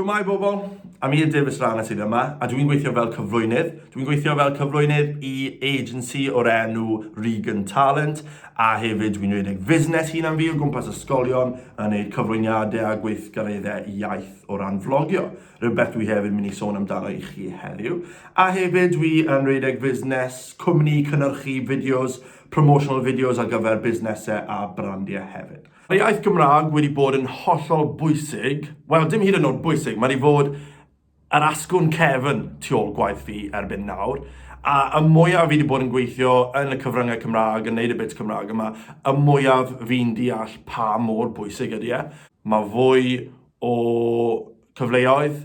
Shwmae bobl, Amir Davies Rana sydd yma a dwi'n gweithio fel cyflwynydd. Dwi'n gweithio fel cyflwynydd i agency o'r enw Regan Talent a hefyd dwi'n rhedeg fusnes hunan fi o gwmpas ysgolion yn neud cyflwyniadau a gweithgareddau iaith o ran vlogio. Rhywbeth dwi hefyd mynd i sôn amdano i chi heddiw. A hefyd dwi yn rhedeg fusnes, cwmni cynhyrchu fideos promotional videos ar gyfer busnesau a brandiau hefyd. Mae iaith Gymraeg wedi bod yn hollol bwysig, wel dim hyd yn oed bwysig, mae wedi fod yr asgwrn cefn tu ôl gwaith fi erbyn nawr, a y mwyaf fi wedi bod yn gweithio yn y cyfryngau Cymraeg, yn neud y bits Cymraeg yma, y mwyaf fi'n deall pa mor bwysig ydy e. Mae fwy o cyfleoedd.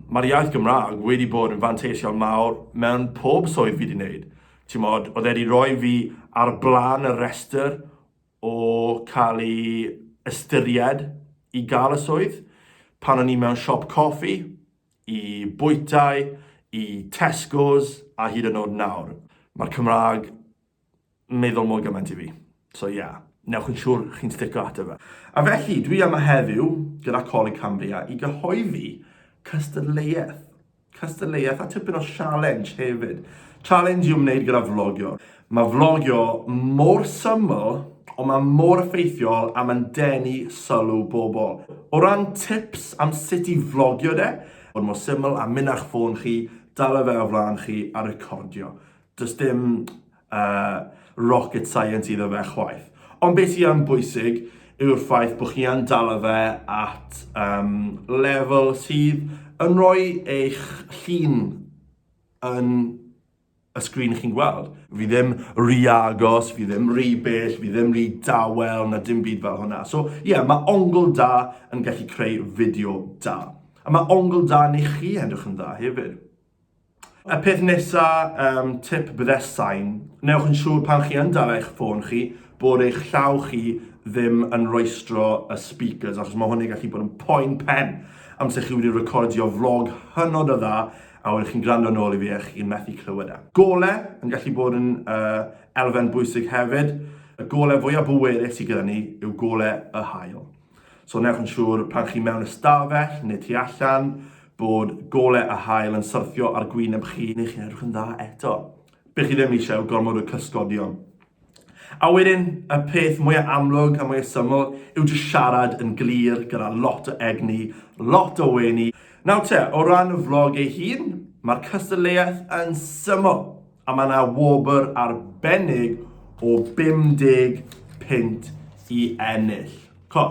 Mae'r iaith Gymraeg wedi bod yn fanteision mawr mewn pob swydd fi wedi neud. Timod, oedd e wedi rhoi fi ar blaen y rhestr o cael ei ystyried i gael y swydd pan o'n i mewn siop coffi, i bwytai, i Tesco's a hyd yn oed nawr. Mae'r Cymraeg yn meddwl mor gymaint i fi. So ie, yeah, newch yn siŵr chi'n stico ato fe. A felly, dwi yma heddiw gyda Coleg Cambria i gyhoeddi cystadleuaeth Cystadleuaeth a tipyn o sialens hefyd. Challenge i'w wneud gyda vlogio. Mae vlogio mor syml, ond mae mor effeithiol a mae'n denu sylw bobl. O ran tips am sut i vlogio de, bod mor syml a mynd â'ch ffôn chi, dala fe o flaen chi a recordio. Does dim uh, rocket science iddo fe chwaith. Ond beth sy'n yn bwysig yw'r ffaith bod chi yn dal fe at um, lefel sydd yn rhoi eich llun yn y sgrin chi'n gweld. Fi ddim rhy agos, fi ddim rhy bell, fi ddim rhy dawel na dim byd fel hwnna. So ie, yeah, mae ongl da yn gallu creu fideo da. A mae ongl da neu chi edrych yn dda hefyd. Y peth nesa, um, tip byddesain, newch yn siŵr pan chi yn dal eich ffôn chi bod eich llaw chi ddim yn roestro y speakers achos mae hwnna'n gallu bod yn poen pen amser chi wedi recordio vlog hynod o dda a wedyn chi'n gwrando nôl i fi a chi'n methu clywed e. Gole yn gallu bod yn uh, elfen bwysig hefyd. Y gole fwyaf bwerus sydd gyda ni yw gole y hael. So newch yn siŵr pan chi mewn ystafell neu tu allan bod golau a hael yn syrthio ar gwyneb chi neu chi'n edrych yn dda eto. Be chi ddim eisiau gormod o cysgodion. A wedyn, y peth mwyaf amlwg a mwyaf syml yw jyst siarad yn glir gyda lot o egni, lot o wenu. Nawr te, o ran y vlog ei hun, mae'r cystadleuaeth yn syml. A mae yna wobr arbennig o 50 pint i ennill. Co,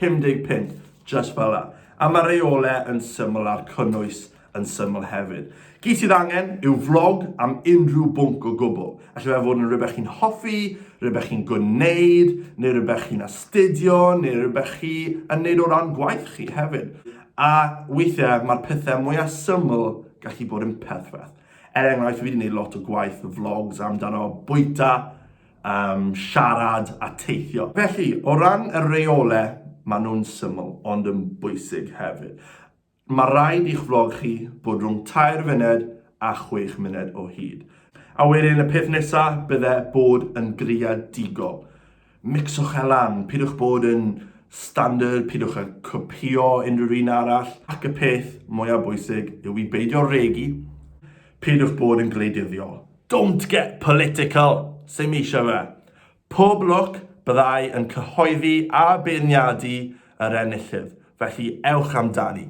50 pint, just fel yna. A mae reole yn syml a'r cynnwys yn syml hefyd. Gyd sydd angen yw vlog am unrhyw bwnc o gwbl. Alla fe fod yn rhywbeth chi'n hoffi, rhywbeth chi'n gwneud, neu rhywbeth chi'n astudio, neu rhywbeth chi yn neud o ran gwaith chi hefyd. A weithiau mae'r pethau mwyaf syml gallu bod yn perthfeth. Er enghraifft, fi wedi gwneud lot o gwaith o vlogs amdano bwyta, um, siarad a teithio. Felly, o ran y reolau, maen nhw'n syml, ond yn bwysig hefyd. Mae rhaid i'ch vlog chi bod rhwng tair funed a chwech muned o hyd. A wedyn y peth nesaf, bydde bod yn greadigol. Micswch e lan, pidwch bod yn standard, pidwch â copio unrhyw un arall, ac y peth mwyaf bwysig yw i beidio regu, pidwch bod yn gwleidyddiol. Don't get political! Sut mi eisiau fe? Pob lwc, byddai yn cyhoeddi a beirniadu yr enillydd, felly ewch amdani.